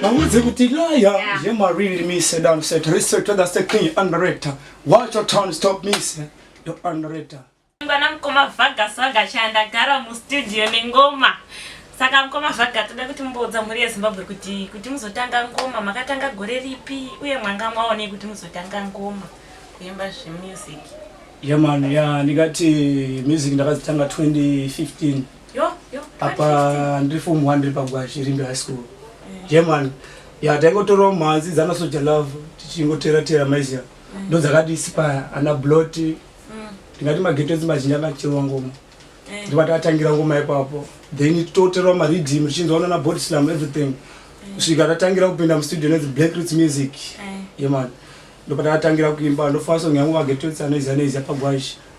Maudze kuti laya yemariri mise down set respect to the state king underrated watch your tone stop mise your underrated ngwana mkoma vaga swaga chanda gara mu studio ne ngoma saka mkoma vaga toda kuti mboudza mhuri ye Zimbabwe kuti kuti muzotanga ngoma makatanga gore ripi uye mwanga mwaone kuti muzotanga ngoma kuimba zve music yeah man yeah ndikati music ndakazitanga 2015 apa ndiri form one ndiri pagwashi rimbe high school eh. german ya taingotorawo mhanzi dzana soja love tichingotera tera maiziya eh. ndo dzakadispaya ana blot mm. ndingati mageto edzi mazhinji anacherwa ngoma eh. ndibati atangira ngoma ipapo then tototerwa maridhim richinzwa unana body slam everything kusvika tatangira kupinda mustudio nedzi black roots music yemani ndopata atangira kuimba ndofanira sonyangu mageto edzi anoiziya neiziya pagwashi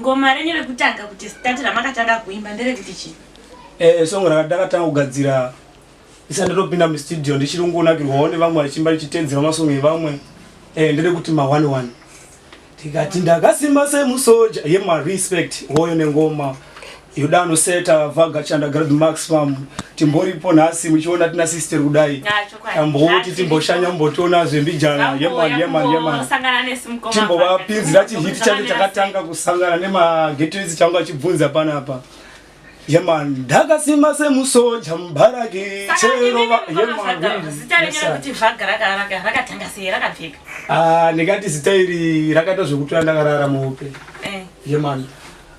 Ngoma renyu rekutanga kuti start ramakatanga kuimba nderekuti chii? Eh, song rakatanga kugadzira isa ndotopinda mustudio ndichiri kungonakirwawo nevamwe vachimba ndichitedzera masong evamwe eh, nderekuti ma one one ndikati ndakasimba semusoja yemarespect hoyo nengoma Yodano seta vaga chanda grad max pam timboripo nhasi muchiona tina sister kudai tamboti timboshanya mbotiona zvembijana yeman yeman yeman timbovapinzira chihiti chacho chakatanga kusangana nemagetoizi changu achibvunza panapa yeman ndakasima semusoja mubaraki cherova ndikati zita iri rakaita zvekutora ndakarara muhope eh. yeman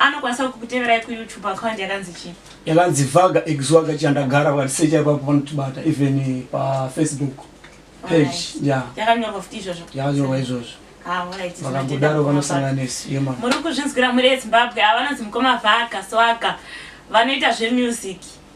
anokwanisa kukuteverai kuyoutube account yakanzi chii yakanzi vaga exwaga chandagara vatisecha ipapo vanotibata even eh, pafacebook page ya yakanyorwa futi izvozvo yakanyorwa izvozvo ah, vakambodaro vanosanganisa yema muri kuzvinzwira muri ezimbabwe avanonzi mukoma vaga swaga vanoita zvemusic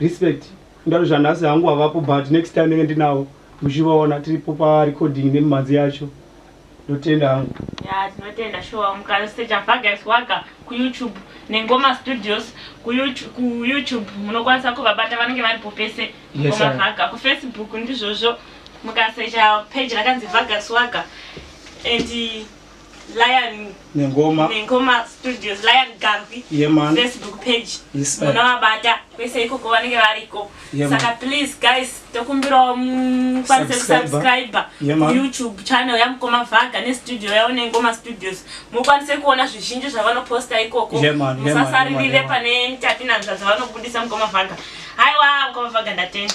Respect ndari zvanhasi hangu havapo but next time ndenge ndinawo muchivaona tiripo pa recording nemimhanzi yacho ndotenda hangu. Yaa tinotenda shuwa mukasecha Vargas Wagga ku YouTube ne Ngoma Studios ku YouTube ku YouTube munokwanisa kuvabata vanenge varipo pese Yes, Ngoma sir. Vagga ku Facebook ndizvozvo mukasecha page rakanzi Vargas Wagga and Lion Nengoma Nengoma Studios Lion Garvey yeah, man. Facebook page yes, munavabata kwese ikoko vanenge variko yeah, saka please guys tokumbirawo mukwanise kusubscribe yeah, youtube channel yamukoma vhaga nestudio yavo nengoma studios mukwanise kuona zvizhinji zvavanoposta ikoko yeah, man, musasaririre yeah, pane tapinanzva dzavanobudisa mukoma vhaga haiwa mukoma vhaga ndatenda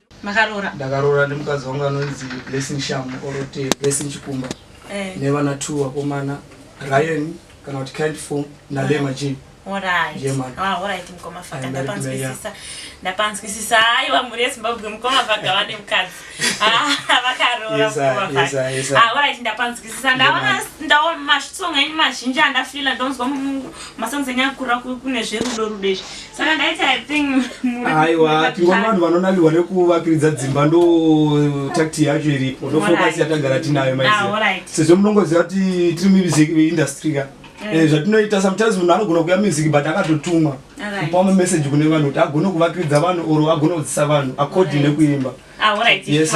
makaroora ndakaroora nemukadzi wangu anonzi blessing shamu orote blessing chikumba eh. nevana two vakomana ryan kana kuti kind form nalema ah. jini ndapanzwisisa aiwa mhuri yezimbabwe mukoma vhaga vane mukadzi vakaroraorit ndapanzwisisa ndaona masong enyu mazhinji andafila ndonzwa masongs enyu akura kune zverudo rudo izvi saka ndaiti i think aiwa tingova vanhu vanonakirwa nekuvakiridza dzimba ndo takti yacho iripo ndo focus yatagara tinayo maiziva ah, sezvo munongoziva kuti tiri mumusik industry ka eh. Eh, zvatinoita sometimes munhu anogona kuya music but akatotumwa kupa mameseji kune vanhu kuti agone kuvakiridza vanhu or agone kudzisa vanhu according nekuimba ah, yes,